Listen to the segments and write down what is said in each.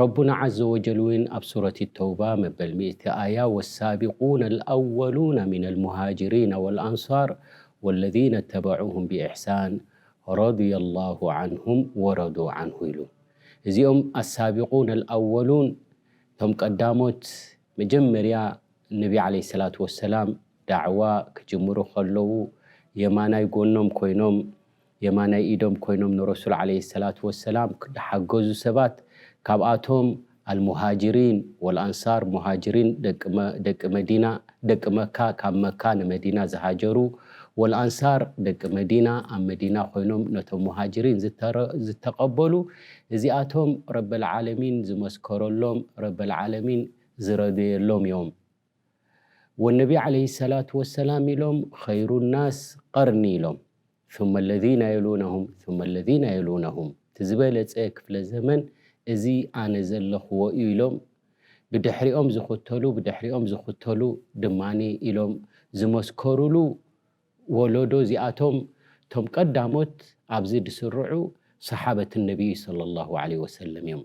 ረቡና ዓዘ ወጀል ውን ኣብ ሱረት ተውባ መበል ሚእቲ ኣያ ወሳቢቁነ ኣልኣወሉነ ሚነል ሙሃጅሪነ ወልኣንሷር ወለዚነ ተበዑሁም ቢኢሕሳን ረዱየ ላሁ ዓንሁም ወረዱ ዓንሁ ኢሉ። እዚኦም ኣሳቢቁነ ኣልኣወሉን እቶም ቀዳሞት መጀመርያ ነቢ ዓለይሂ ሰላቱ ወሰላም ዳዕዋ ክጅምሩ ከለዉ የማናይ ጎኖም ኮይኖም የማናይ ኢዶም ኮይኖም ንረሱል ዓለይሂ ሰላቱ ወሰላም ዝሓገዙ ሰባት ካብኣቶም ኣልሙሃጂሪን ወልኣንሳር፣ ሙሃጂሪን ደቂ መዲና፣ ደቂ መካ ካብ መካ ንመዲና ዝሃጀሩ፣ ወልኣንሳር ደቂ መዲና ኣብ መዲና ኮይኖም ነቶም ሙሃጂሪን ዝተቐበሉ፣ እዚኣቶም ረበል ዓለሚን ዝመስከረሎም፣ ረበል ዓለሚን ዝረደየሎም እዮም። ወነቢ ዓለይሂ ሰላቱ ወሰላም ኢሎም ኸይሩናስ ቐርኒ ኢሎም። ثመ ለዚነ የሉነሁም ثመ ለዚነ የሉነሁም እቲ ዝበለፀ ክፍለ ዘመን እዚ ኣነ ዘለኽዎ እዩ ኢሎም ብድሕሪኦም ዝኽተሉ ብድሕሪኦም ዝኽተሉ ድማ ኢሎም ዝመስከሩሉ ወለዶ እዚኣቶም እቶም ቀዳሞት ኣብዚ ድስርዑ ሰሓበት ነቢይ ሰለላሁ ዓለይሂ ወሰለም እዮም።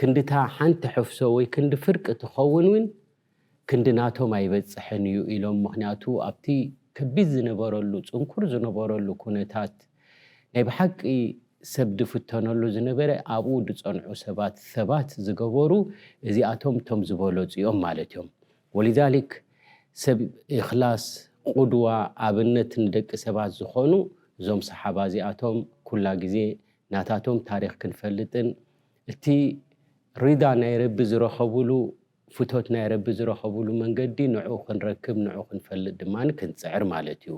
ክንድታ ሓንቲ ሕፍሶ ወይ ክንዲ ፍርቂ ትኸውን ውን ክንዲ ናቶም ኣይበጽሕን እዩ ኢሎም ምኽንያቱ ኣብቲ ከቢድ ዝነበረሉ ጽንኩር ዝነበረሉ ኩነታት ናይ ብሓቂ ሰብ ድፍተነሉ ዝነበረ ኣብኡ ድጸንዑ ሰባት ሰባት ዝገበሩ እዚኣቶም እቶም ዝበለጹ እዮም ማለት እዮም ወሊዛሊክ ሰብ እኽላስ ቁድዋ ኣብነት ንደቂ ሰባት ዝኾኑ እዞም ሰሓባ እዚኣቶም ኩላ ግዜ ናታቶም ታሪኽ ክንፈልጥን እቲ ሪዳ ናይ ረቢ ዝረኸብሉ ፍቶት ናይ ረቢ ዝረኸብሉ መንገዲ ንዑ ክንረክብ ንዑ ክንፈልጥ ድማ ክንጽዕር ማለት እዩ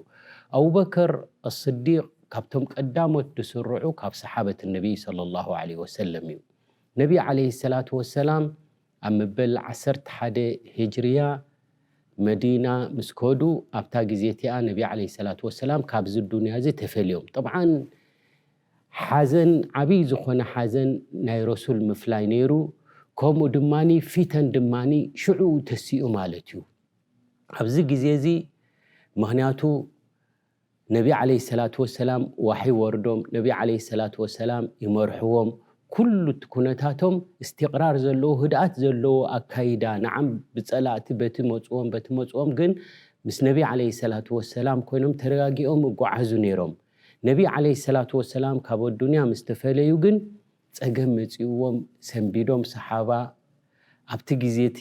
ኣቡበከር ኣስዲቅ ካብቶም ቀዳሞት ድስርዑ ካብ ሰሓበት ነቢ ሰለላሁ ዓለይሂ ወሰለም እዩ ነቢ ዓለይሂ ሰላቱ ወሰላም ኣብ መበል ዓሰርተ ሓደ ሂጅርያ መዲና ምስ ከዱ ኣብታ ግዜ እቲኣ ነቢ ዓለይሂ ሰላቱ ወሰላም ካብዚ ዱንያ እዚ ተፈልዮም ጠብዓን ሓዘን ዓብይ ዝኾነ ሓዘን ናይ ረሱል ምፍላይ ነይሩ ከምኡ ድማ ፊተን ድማ ሽዑኡ ተሲኡ ማለት እዩ ኣብዚ ግዜ እዚ ምኽንያቱ ነቢ ዓለይሂ ሰላቱ ወሰላም ዋሕይ ይወርዶም፣ ነቢ ዓለይሂ ሰላቱ ወሰላም ይመርሕዎም፣ ኩሉ እቲ ኩነታቶም እስቲቕራር ዘለዎ ህድኣት ዘለዎ ኣካይዳ፣ ነዓም ብጸላእቲ በቲ መጹዎም በቲ መጹዎም ግን ምስ ነቢ ዓለይሂ ሰላቱ ወሰላም ኮይኖም ተረጋጊኦም እጉዓዙ ነይሮም። ነቢ ዓለይሂ ሰላቱ ወሰላም ካብ ኣዱንያ ምስ ተፈለዩ ግን ጸገም መጺኡዎም ሰንቢዶም ሰሓባ ኣብቲ ግዜ እቲ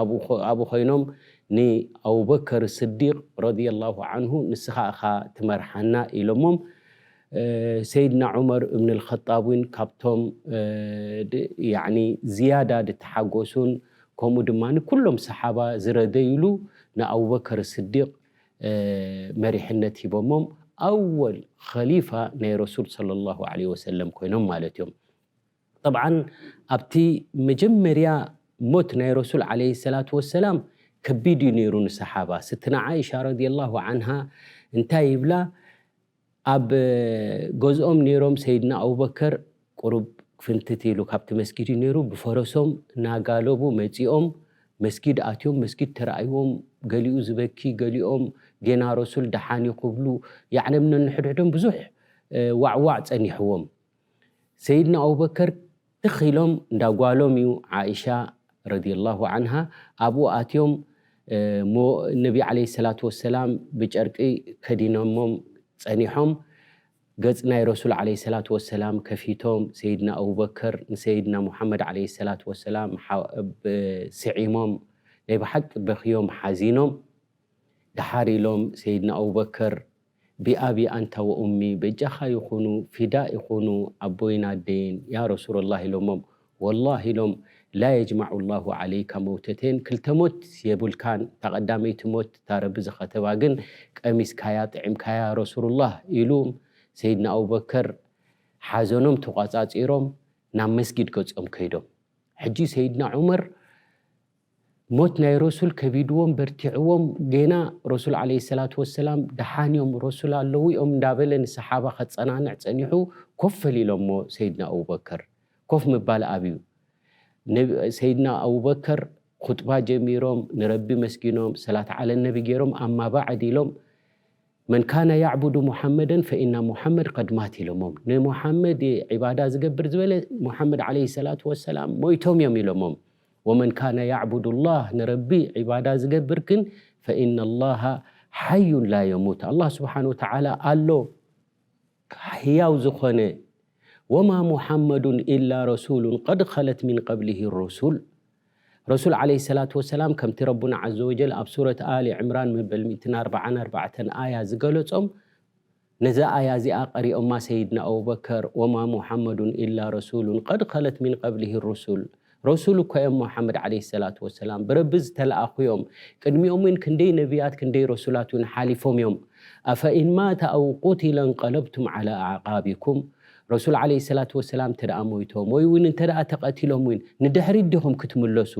ኣብኡ ኾይኖም ንኣቡበከር ስዲቅ ረዲየላሁ ዓንሁ ንስኻ እኻ ትመርሓና ኢሎሞም። ሰይድና ዑመር እብንል ኸጣብ እውን ካብቶም ዝያዳ ድተሓጎሱን ከምኡ ድማ ኩሎም ሰሓባ ዝረደዩሉ ንኣቡበከር ስዲቅ መሪሕነት ሂቦሞም ኣወል ኸሊፋ ናይ ረሱል ሰለላሁ ዓለይሂ ወሰለም ኮይኖም ማለት እዮም። ጠብዓን ኣብቲ መጀመርያ ሞት ናይ ረሱል ዓለይሂ ሰላቱ ወሰላም ከቢድ እዩ ነይሩ ንሰሓባ። ስትና ዓኢሻ ረዲየላሁ ዓንሃ እንታይ ይብላ ኣብ ገዝኦም ነይሮም ሰይድና ኣቡበከር ቁሩብ ፍንትት ኢሉ ካብቲ መስጊድ እዩ ነይሩ ብፈረሶም ናጋለቡ መጺኦም መስጊድ ኣትዮም መስጊድ ተራእይዎም ገሊኡ ዝበኪ ገሊኦም ጌና ረሱል ደሓን እዩ ክብሉ ያዕነብ ነንሕድሕዶም ብዙሕ ዋዕዋዕ ጸኒሕዎም። ሰይድና ኣቡበከር ትኽ ኢሎም እንዳ ጓሎም እዩ ዓኢሻ ረዲየላሁ ዓንሃ ኣብኡ ኣትዮም እሞ ነቢ ዓለይሂ ሰላቱ ወሰላም ብጨርቂ ከዲኖሞም ጸኒሖም ገጽ ናይ ረሱል ዓለይሂ ሰላቱ ወሰላም ከፊቶም ሰይድና ኣቡበከር ንሰይድና ሙሓመድ ዓለይሂ ሰላቱ ወሰላም ስዒሞም ናይ ብሓቂ በኽዮም ሓዚኖም ደሓር ኢሎም ሰይድና ኣቡበከር ቢኣቢ ኣንታ ወኡሚ በጃኻ ይኹኑ ፊዳ ይኹኑ ኣቦይን ኣደይን ያ ረሱረላህ ኢሎሞም ወላህ ኢሎም ላ የጅማዑ ላሁ ዓለይካ መውተተይን ክልተ ሞት የብልካን እታ ቀዳመይቲ ሞት እታ ረቢ ዝኸተባ ግን ቀሚስካያ ጥዒምካያ ረሱሩላህ ኢሉም ሰይድና ኣቡበከር ሓዘኖም ተቋጻጺሮም ናብ መስጊድ ገጾም ከይዶም ሕጂ ሰይድና ዑመር ሞት ናይ ረሱል ከቢድዎም በርቲዕዎም ጌና ረሱል ዓለይሂ ሰላቱ ወሰላም ደሓን እዮም ረሱል ኣለዉ እዮም እንዳበለ ንሰሓባ ከጸናንዕ ጸኒሑ ኮፍ ፈሊሎሞ ሰይድና ኣቡበከር ኮፍ ምባል ኣብዩ ሰይድና ኣቡበከር ኹጥባ ጀሚሮም ንረቢ መስጊኖም ሰላት ዓለ ነቢ ጌሮም ኣማ ባዕድ ኢሎም መን ካነ ያዕቡዱ ሙሓመደን ፈኢና ሙሓመድ ቀድ ማት ኢሎሞም። ንሙሓመድ እየ ዒባዳ ዝገብር ዝበለ ሙሓመድ ዓለይሂ ሰላቱ ወሰላም ሞይቶም እዮም ኢሎሞም። ወመን ካነ ያዕቡዱ ላህ ንረቢ ዒባዳ ዝገብር ግን ፈኢነ ላሃ ሓዩን ላ የሙት ኣላህ ስብሓነሁ ወተዓላ ኣሎ ህያው ዝኾነ ወማ ሙሓመዱን ኢላ ረሱሉን ቀድ ኸለት ሚን ቀብሊሂ ሩሱል ረሱል ዓለይሂ ሰላቱ ወሰላም ከምቲ ረቡና ዓዘ ወጀል ኣብ ሱረት ኣሊ ዕምራን መበል ሚእትን ኣርባዓን ኣርባዕተን ኣያ ዝገለጾም ነዛ ኣያ እዚኣ ቀሪኦማ ሰይድና ኣቡበከር ወማ ሙሓመዱን ኢላ ረሱሉን ቀድ ኸለት ሚን ቐብሊሂ ሩሱል ረሱል እኳ እዮም ሙሓመድ ዓለይሂ ሰላቱ ወሰላም ብረቢ ዝተለኣኹ እዮም ቅድሚኦም እውን ክንደይ ነብያት ክንደይ ረሱላት እውን ሓሊፎም እዮም ኣፈኢን ማተ ኣው ቁቲለ እንቐለብቱም ዓላ ኣዕቓቢኩም ረሱል ዓለይሂ ሰላቱ ወሰላም እንተደኣ ሞይቶም ወይ'ውን እንተደኣ ተቐቲሎም እውን ንድሕሪት ዲኹም ክትምለሱ?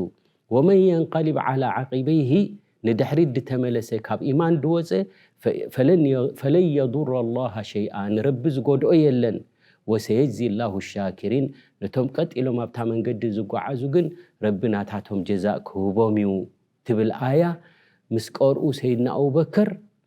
ወመን የንቀሊብ ዓላ ዓቂበይሂ ንድሕሪት ድተመለሰ ካብ ኢማን ድወጸ ፈለን የዱረ ኣላሃ ሸይኣ ንረቢ ዝጎድኦ የለን ወሰየጅዚ ኣላሁ ሻኪሪን ነቶም ቀጥ ኢሎም ኣብታ መንገዲ ዝጎዓዙ ግን ረቢ ናታቶም ጀዛእ ክህቦም እዩ ትብል ኣያ ምስ ቀርኡ ሰይድና ኣቡበከር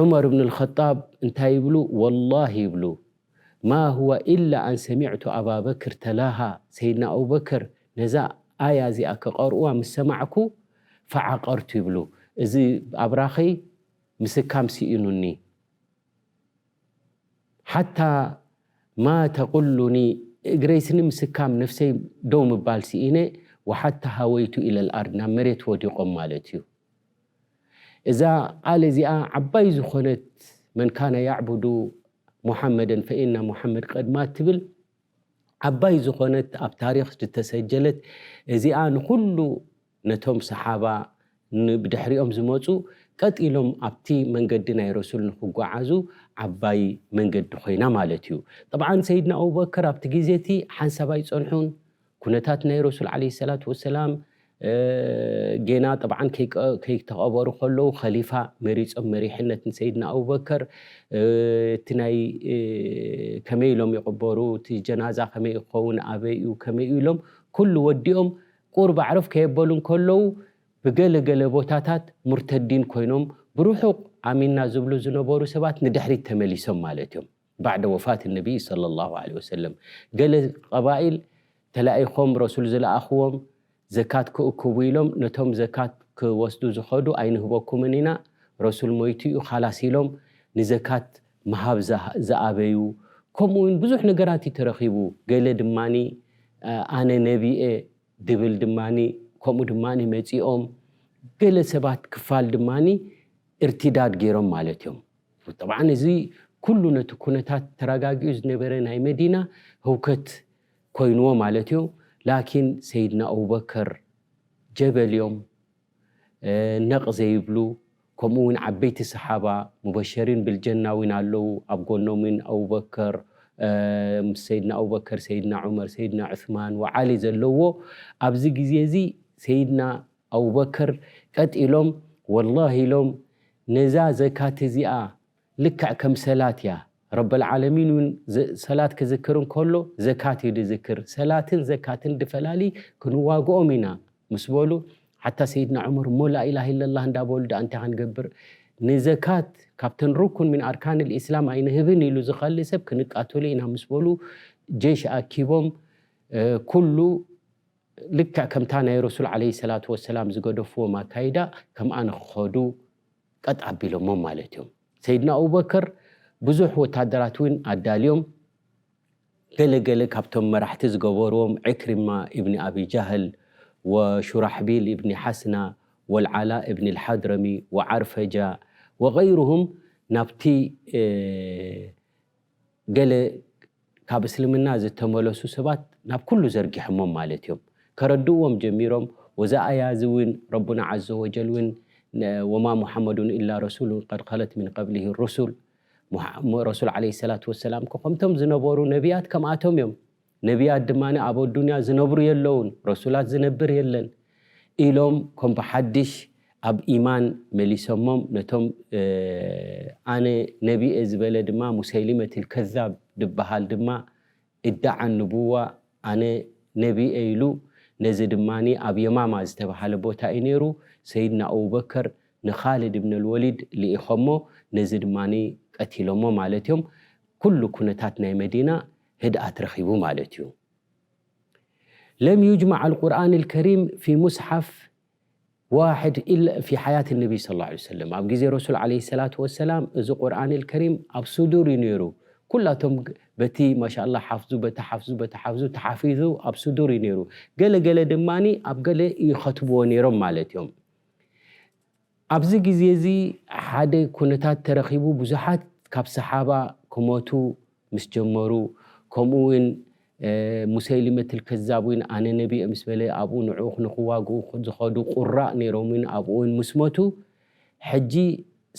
ዑመር እብን ኣልኸጣብ እንታይ ይብሉ? ወላሂ ይብሉ ማ ሁወ ኢላ ኣን ሰሚዕቱ ኣባ በክር ተላሃ፣ ሰይድና ኣቡበከር ነዛ ኣያ እዚኣ ክቐርኡዋ ምስ ሰማዕኩ ፈዓቀርቱ ይብሉ፣ እዚ ኣብራኸይ ምስካም ስኢኑኒ፣ ሓታ ማ ተቁሉኒ እግረይ ስኒ ምስካም ነፍሰይ ደው ምባል ስኢነ፣ ወሓታ ሃወይቱ ኢለል ኣርድ ናብ መሬት ወዲቖም ማለት እዩ። እዛ ቃል እዚኣ ዓባይ ዝኾነት መን ካነ ያዕቡዱ ሙሓመደን ፈኢነ ሙሓመድ ቀድ ማት ትብል ዓባይ ዝኾነት ኣብ ታሪኽ ዝተሰጀለት እዚኣ ንኹሉ ነቶም ሰሓባ ንብድሕሪኦም ዝመፁ ቀጥ ኢሎም ኣብቲ መንገዲ ናይ ረሱል ንክጓዓዙ ዓባይ መንገዲ ኮይና ማለት እዩ። ጠብዓን ሰይድና ኣቡበክር ኣብቲ ግዜ እቲ ሓንሳብ ኣይፀንሑን። ኩነታት ናይ ረሱል ዓለይሂ ሰላቱ ወሰላም ጌና ጠብዓን ከይተቐበሩ ከለዉ ኸሊፋ መሪጾም መሪሕነት ንሰይድና ኣቡበከር እቲ ናይ ከመይ ኢሎም ይቕበሩ እቲ ጀናዛ ከመይ እዩ ክኸውን ኣበይ እዩ ከመይ እዩ ኢሎም ኩሉ ወዲኦም ቁርብ ኣዕረፍ ከየበሉ እንከለዉ ብገለ ገለ ቦታታት ሙርተዲን ኮይኖም ብርሑቕ ኣሚንና ዝብሉ ዝነበሩ ሰባት ንድሕሪት ተመሊሶም ማለት እዮም። ባዕደ ወፋት ነቢይ ሰለሏሁ ዓለይሂ ወሰለም ገለ ቐባኢል ተላኢኾም ረሱል ዝለኣኽዎም ዘካት ክእክቡ ኢሎም ነቶም ዘካት ክወስዱ ዝኸዱ ኣይንህበኩምን ኢና ረሱል ሞይቱ እዩ ኻላስ ኢሎም ንዘካት ምሃብ ዝኣበዩ ከምኡ እውን ብዙሕ ነገራት እዩ ተረኺቡ ገለ ድማ ኣነ ነቢይ እየ ድብል ድማ ከምኡ ድማ መፂኦም ገለ ሰባት ክፋል ድማ እርቲዳድ ገይሮም ማለት እዮም። ጠብዓን እዚ ኩሉ ነቲ ኩነታት ተራጋጊኡ ዝነበረ ናይ መዲና ህውከት ኮይንዎ ማለት እዩ ላኪን ሰይድና ኣቡበከር ጀበል እዮም ነቅ ዘይብሉ ከምኡ ውን ዓበይቲ ሰሓባ ሙበሸሪን ብልጀና ውን ኣለው ኣብ ጎኖም ውን ኣቡበከር ምስ ሰይድና ኣቡበከር ሰይድና ዑመር ሰይድና ዑስማን ወዓሊ ዘለዎ ኣብዚ ግዜ እዚ ሰይድና ኣቡበከር ቀጢሎም ወላሂ ኢሎም ነዛ ዘካት እዚኣ ልክዕ ከም ሰላት እያ ረበልዓለሚን እውን ሰላት ክዝክር እንከሎ ዘካት እዩ ዝዝክር ሰላትን ዘካትን ድፈላሊ ክንዋግኦም ኢና ምስ በሉ ሓታ ሰይድና ዑመር እሞ ላኢላሃ ኢለላህ እንዳበሉ ድኣ እንታይ ክንገብር ንዘካት ካብተን ሩኩን ሚን ኣርካን ልእስላም ኣይንህብን ኢሉ ዝኸሊ ሰብ ክንቃተሉ ኢና ምስ በሉ ጀሽ ኣኪቦም ኩሉ ልክዕ ከምታ ናይ ረሱል ዓለይሂ ሰላቱ ወሰላም ዝገደፍዎም ኣካይዳ ከምኣ ንኽኸዱ ቀጥ ኣቢሎሞም ማለት እዮም። ሰይድና ኣቡበከር ብዙሕ ወታደራት እውን ኣዳልዮም ገለ ገለ ካብቶም መራሕቲ ዝገበርዎም ዒክሪማ ኢብኒ ኣቢ ጃህል ወሹራሕቢል ኢብኒ ሓስና ወልዓላ ኢብኒ ልሓድረሚ ወዓርፈጃ ወገይሩሁም ናብቲ ገለ ካብ እስልምና ዝተመለሱ ሰባት ናብ ኩሉ ዘርጊሖሞም ማለት እዮም ከረድእዎም ጀሚሮም ወዛ ኣያ እዚ እውን ረቡና ዓዘ ወጀል እውን ወማ ሙሓመዱን ኢላ ረሱሉን ቀድ ከለት ሚን ቀብሊሂ ሩሱል ረሱል ዓለይሂ ሰላቱ ወሰላም እኮ ከምቶም ዝነበሩ ነብያት ከምኣቶም እዮም ነብያት ድማ ኣብ ኣዱንያ ዝነብሩ የለዉን፣ ረሱላት ዝነብር የለን ኢሎም ከም ብሓድሽ ኣብ ኢማን መሊሰሞም፣ ነቶም ኣነ ነቢ'የ ዝበለ ድማ ሙሰይሊመቲል ከዛብ ድበሃል ድማ እዳዓ ንቡዋ ኣነ ነቢ'የ ኢሉ፣ ነዚ ድማ ኣብ የማማ ዝተበሃለ ቦታ'ዩ ነይሩ፣ ሰይድና ኣቡበከር ንኻልድ እብነል ወሊድ ልኢኾሞ፣ ነዚ ድማ ቀቲሎሞ ማለት'ዮም፣ ኩሉ ኩነታት ናይ መዲና ህድኣት ረኺቡ ማለት እዩ። ለም ዩጅማዕ ኣልቁርኣን ኣልከሪም ፊ ሙስሓፍ ዋሕድ ኢላ ፊ ሓያት ኣነቢይ ሰለላሁ ዓለይሂ ወሰለም፣ ኣብ ግዜ ረሱል ዓለይሂ ሰላቱ ወሰላም እዚ ቁርኣን ኣልከሪም ኣብ ሱዱር እዩ ነይሩ። ኩላቶም በቲ ማሻላህ ሓፍዙ በቲ ሓፍዙ በቲ ሓፍዙ ተሓፊዙ ኣብ ሱዱር እዩ ነይሩ። ገለ ገለ ድማ ኣብ ገለ ይኸትብዎ ነይሮም ማለት እዮም። ኣብዚ ግዜ እዚ ሓደ ኩነታት ተረኺቡ ብዙሓት ካብ ሰሓባ ክሞቱ ምስ ጀመሩ ከምኡ ውን ሙሰይሊመትል ከዛብ ውን ኣነ ነቢየ ምስ በለ ኣብኡ ንዕኡ ንኽዋግኡ ዝኸዱ ቁራእ ነይሮም ውን ኣብኡ ውን ምስ ሞቱ ሕጂ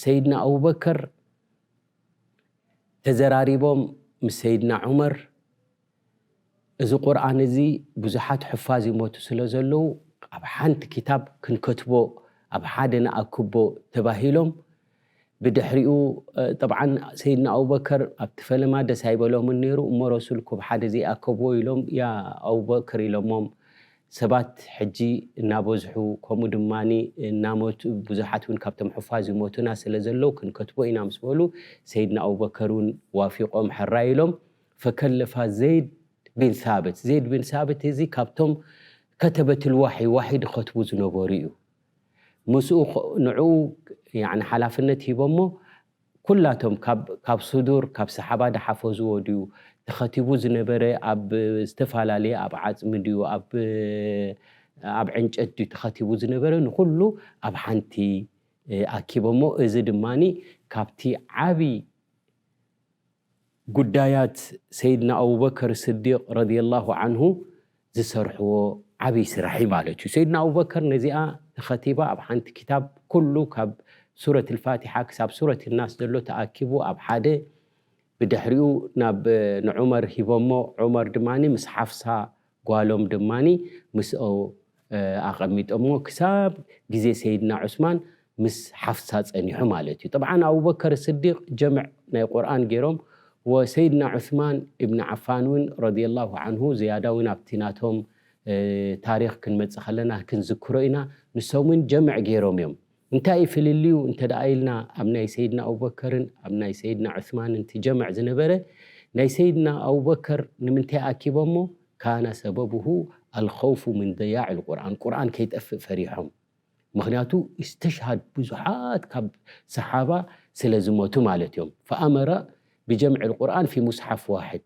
ሰይድና ኣቡበከር ተዘራሪቦም ምስ ሰይድና ዑመር እዚ ቁርኣን እዚ ብዙሓት ሑፋዝ ይሞቱ ስለ ዘለዉ ኣብ ሓንቲ ክታብ ክንከትቦ ኣብ ሓደ ንኣክቦ ተባሂሎም ብድሕሪኡ ጠብዓን ሰይድና ኣቡበከር ኣብቲ ፈለማ ደስ ኣይበሎምን ነይሩ እሞ ረሱል ኩብ ሓደ ዘይኣከብዎ ኢሎም ያ ኣቡበክር ኢሎሞም ሰባት ሕጂ እናበዝሑ ከምኡ ድማ እናመቱ ብዙሓት እውን ካብቶም ሑፋዝ ይሞቱና ስለ ዘለዉ ክንከትቦ ኢና ምስ በሉ ሰይድና ኣቡበከር እውን ዋፊቆም ሕራይ ኢሎም ፈከለፋ ዘይድ ቢን ሳብት፣ ዘይድ ቢን ሳብት እዚ ካብቶም ከተበት ልዋሕይ፣ ዋሕይ ድኸትቡ ዝነበሩ እዩ። ምስኡ ንዕኡ ያኒ ሓላፍነት ሂቦሞ ኩላቶም ካብ ካብ ሱዱር ካብ ሰሓባ ድሓፈዝዎ ድዩ ተኸቲቡ ዝነበረ ኣብ ዝተፋላለየ ኣብ ዓጽሚ ድዩ ኣብ ኣብ ዕንጨት ድዩ ተኸቲቡ ዝነበረ ንኹሉ ኣብ ሓንቲ ኣኪቦሞ እዚ ድማኒ ካብቲ ዓቢ ጉዳያት ሰይድና ኣቡበከር ስዲቅ ረዲየላሁ ዓንሁ ዝሰርሕዎ ዓብይ ስራሕ እዩ ማለት እዩ። ሰይድና ኣቡበከር ነዚኣ ንኸቲባ ኣብ ሓንቲ ክታብ ኩሉ ካብ ሱረት ልፋቲሓ ክሳብ ሱረት ናስ ዘሎ ተኣኪቡ ኣብ ሓደ ብድሕሪኡ ናብ ንዑመር ሂቦሞ ዑመር ድማ ምስ ሓፍሳ ጓሎም ድማ ምስኦ ኣቐሚጦምዎ ክሳብ ግዜ ሰይድና ዑስማን ምስ ሓፍሳ ጸኒሑ ማለት እዩ። ጠብዓን ኣቡበከር ስዲቕ ጀምዕ ናይ ቁርኣን ጌሮም ወ ሰይድና ዑስማን ኢብን ዓፋን እውን ረዲየላሁ ዓንሁ ዝያዳ እውን ኣብቲ ናቶም ታሪኽ ክንመጽእ ከለና ክንዝክሮ ኢና ንሶም እውን ጀምዕ ጌሮም እዮም። እንታይ እዩ ፍልልዩ እንተ ደኣ ኢልና ኣብ ናይ ሰይድና ኣቡበከርን ኣብ ናይ ሰይድና ዑስማንን ትጀምዕ ዝነበረ ናይ ሰይድና ኣቡበከር ንምንታይ ኣኪቦሞ ካነ ሰበቡሁ ኣልኸውፉ ምን ضያዕ ልቁርኣን ቁርኣን ከይጠፍእ ፈሪሖም ምኽንያቱ ኢስተሽሃድ ብዙሓት ካብ ሰሓባ ስለ ዝሞቱ ማለት እዮም ፈኣመረ ብጀምዕ ልቁርኣን ፊ ሙስሓፍ ዋሕድ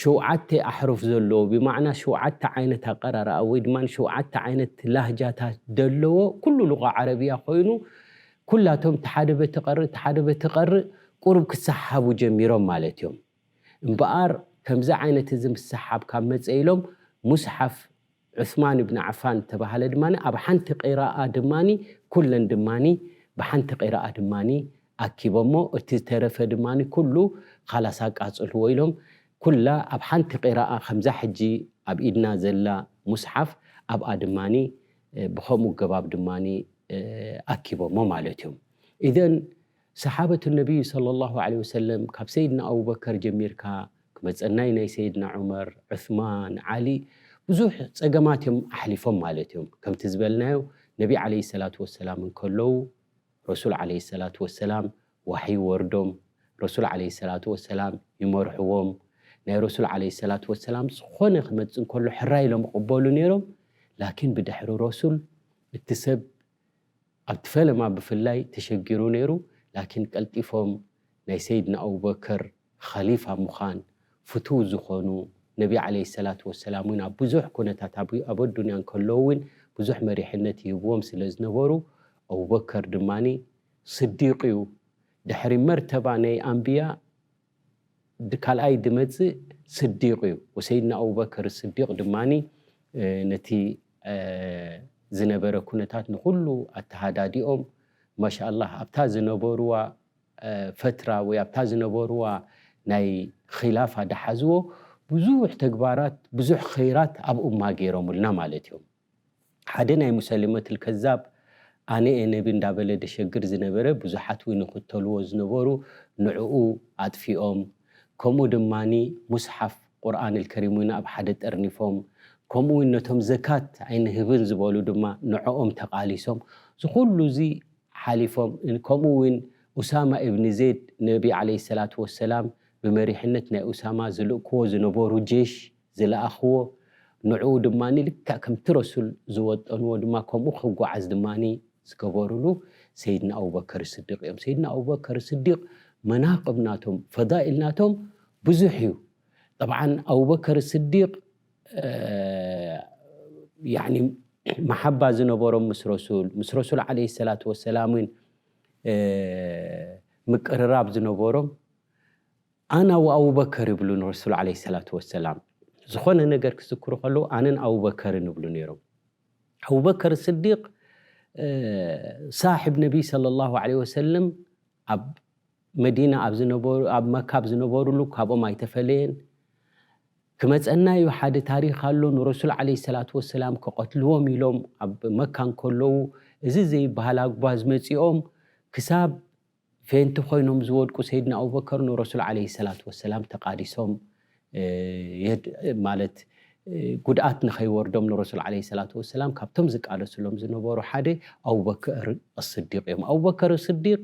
ሸውዓተ ኣሕሩፍ ዘለዎ ብማዕና ሸውዓተ ዓይነት ኣቀራርኣ ወይ ድማ ሸውዓተ ዓይነት ላህጃታት ደለዎ ኩሉ ሉቃ ዓረብያ ኮይኑ ኩላቶም እቲ ሓደ በቲ ቀርእ እቲ ሓደ በቲ ቀርእ ቁሩብ ክሰሓሓቡ ጀሚሮም ማለት እዮም እምበኣር ከምዚ ዓይነት እዚ ምስሕሓብ ካብ መጸ ኢሎም ሙስሓፍ ዑስማን ብን ዓፋን እተባህለ ድማ ኣብ ሓንቲ ቂራኣ ድማ ኩለን ድማ ብሓንቲ ቂራኣ ድማ ኣኪቦሞ እቲ ዝተረፈ ድማ ኩሉ ኻላስ ኣቃጽልዎ ኢሎም ኩላ ኣብ ሓንቲ ቂራኣ ከምዛ ሕጂ ኣብ ኢድና ዘላ ሙስሓፍ ኣብኣ ድማ ብኸምኡ ኣገባብ ድማ ኣኪቦሞ ማለት እዮም ኢዘን ሰሓበቱ ነብዩ ሰለሏሁ ዓለይሂ ወሰለም ካብ ሰይድና ኣቡበከር ጀሚርካ ክመጸናይ ናይ ሰይድና ዑመር፣ ዑስማን፣ ዓሊ ብዙሕ ጸገማት እዮም ኣሕሊፎም ማለት እዮም። ከምቲ ዝበልናዮ ነቢ ዓለይሂ ሰላቱ ወሰላም እንከለዉ ረሱል ዓለይሂ ሰላቱ ወሰላም ዋሕይ ይወርዶም፣ ረሱል ዓለይሂ ሰላቱ ወሰላም ይመርሕዎም፣ ናይ ረሱል ዓለይሂ ሰላቱ ወሰላም ዝኾነ ክመጽእ እንከሎ ሕራይ ኢሎም ይቕበሉ ነይሮም ላኪን ብድሕሪ ረሱል እቲ ሰብ ኣብቲ ፈለማ ብፍላይ ተሸጊሩ ነይሩ ላኪን ቀልጢፎም ናይ ሰይድና ኣቡበከር ኸሊፋ ምዃን ፍቱው ዝኾኑ ነቢ ዓለይሂ ሰላቱ ወሰላም እውን ኣብ ብዙሕ ኩነታት ኣብ ኣዱንያ እንከለዉ እውን ብዙሕ መሪሕነት ይህብዎም ስለዝነበሩ ኣቡበከር ድማ ስዲቅዩ ድሕሪ መርተባ ናይ ኣንብያ ካልኣይ ድመጽእ ስዲቅ እዩ ወሰይድና ኣቡበክር ስዲቅ ድማ ነቲ ዝነበረ ኩነታት ንኹሉ ኣተሃዳዲኦም ማሻላህ ኣብታ ዝነበርዋ ፈትራ ወይ ኣብታ ዝነበርዋ ናይ ኺላፋ ዳሓዝዎ ብዙሕ ተግባራት ብዙሕ ኸይራት ኣብ ኡማ ገይሮምልና ማለት እዮም። ሓደ ናይ ሙሰሊመትል ከዛብ ኣነ እየ ነቢ እንዳበለ ደሸግር ዝነበረ ብዙሓት ውን ይኽተልዎ ዝነበሩ ንዑኡ ኣጥፊኦም ከምኡ ድማ ሙስሓፍ ቁርኣንል ከሪም ውን ኣብ ሓደ ጠርኒፎም ከምኡ ውን ነቶም ዘካት ኣይንህብን ዝበሉ ድማ ንዖኦም ተቓሊሶም እዚ ኩሉ እዚ ሓሊፎም ከምኡ ውን ኡሳማ እብኒ ዜድ ነቢ ዓለይሂ ሰላቱ ወሰላም ብመሪሕነት ናይ ኡሳማ ዝልእክዎ ዝነበሩ ጄሽ ዝለኣኽዎ፣ ንዕኡ ድማ ልክዕ ከምቲ ረሱል ዝወጠንዎ ድማ ከምኡ ክጓዓዝ ድማ ዝገበርሉ ሰይድና ኣቡበከር ስዲቕ እዮም። ሰይድና ኣቡበከር ስዲቕ መናቅብ ናቶም ፈዳኢል ናቶም ብዙሕ እዩ። ጠብዓን ኣቡበከር ስዲቕ ያኒ መሓባ ዝነበሮም ምስ ረሱል ምስ ረሱል ዓለይሂ ሰላቱ ወሰላምን ምቅርራብ ዝነበሮም ኣና ወኣቡበከር ይብሉ ንረሱል ዓለይሂ ሰላቱ ወሰላም። ዝኾነ ነገር ክዝክሩ ከለዉ ኣነን ኣቡበከርን ይብሉ ነይሮም። ኣቡበከር ስዲቅ ሳሒብ ነቢይ ሰለላሁ ዓለይሂ ወሰለም ኣብ መዲና ኣብ ዝነበሩ ኣብ መካ ኣብ ዝነበሩሉ ካብኦም ኣይተፈለየን። ክመጸና እዩ ሓደ ታሪኽ ኣሎ ንረሱል ዓለይሂ ሰላቱ ወሰላም ክቐትልዎም ኢሎም ኣብ መካ እንከለዉ እዚ ዘይበሃል ኣጉባዝ መጺኦም ክሳብ ፌንቲ ኮይኖም ዝወድቁ ሰይድና ኣቡበከር ንረሱል ዓለይሂ ሰላቱ ወሰላም ተቛዲሶም ማለት ጉድኣት ንኸይወርዶም ንረሱል ዓለይሂ ሰላቱ ወሰላም ካብቶም ዝቃለስሎም ዝነበሩ ሓደ ኣቡበከር ኣስዲቕ እዮም። ኣቡበከር ኣስዲቕ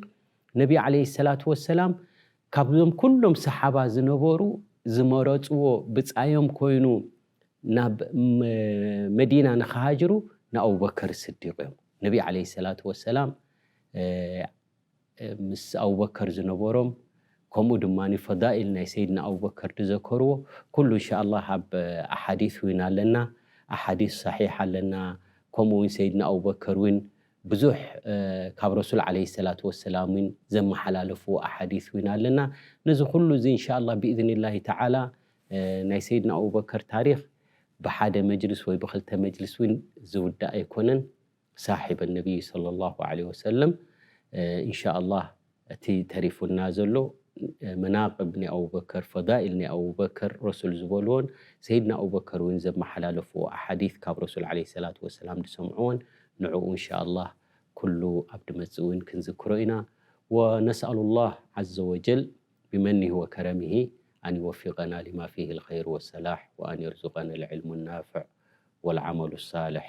ነቢ ዓለይሂ ሰላቱ ወሰላም ካብዞም ኩሎም ሰሓባ ዝነበሩ ዝመረጽዎ ብጻዮም ኮይኑ ናብ መዲና ንኽሃጅሩ ንኣቡበከር ኣስዲቕ እዮም። ነቢ ዓለይሂ ሰላቱ ወሰላም ምስ ኣቡበከር ዝነበሮም ከምኡ ድማ ፈዳኢል ናይ ሰይድና ኣቡበከር ዝዘከርዎ ኩሉ እንሻኣላህ ኣብ ኣሓዲስ ዊን ኣለና ኣሓዲስ ሰሒሕ ኣለና ከምኡ ዊን ሰይድና ኣቡበከር ዊን ብዙሕ ካብ ረሱል ዓለይሂ ሰላቱ ወሰላም ዊን ዘመሓላለፍዎ ኣሓዲስ ዊን ኣለና ነዚ ኩሉ እዚ እንሻኣላህ ቢኢዝኒላሂ ተዓላ ናይ ሰይድና ኣቡበከር ታሪኽ ብሓደ መጅልስ ወይ ብኽልተ መጅልስ ዊን ዝውዳእ ኣይኮነን። ሳሒበ ነብይ ሰለሏሁ ዓለይሂ ወሰለም እንሻኣላህ እቲ ተሪፉና ዘሎ መናቅብ ናይ ኣቡበከር ፈዳኢል ናይ ኣቡበከር ረሱል ዝበልዎን ሰይድና ኣቡበከር ውን ዘመሓላለፍዎ ኣሓዲት ካብ ረሱል ዓለይሂ ሰላቱ ወሰላም ዝሰምዕዎን ንዑኡ እንሻኣላህ ኩሉ ኣብ ድመጽእ ውን ክንዝክሮ ኢና ወነስኣሉሏህ ዓዘ ወጀል ቢመኒሂ ወከረሚሂ ኣን ይወፊቀና ሊማ ፊሂል ኸይር ወሰላሕ ወኣን የርዙቀነል ዕልሙን ናፍዕ ወልዓመሉ ሳልሕ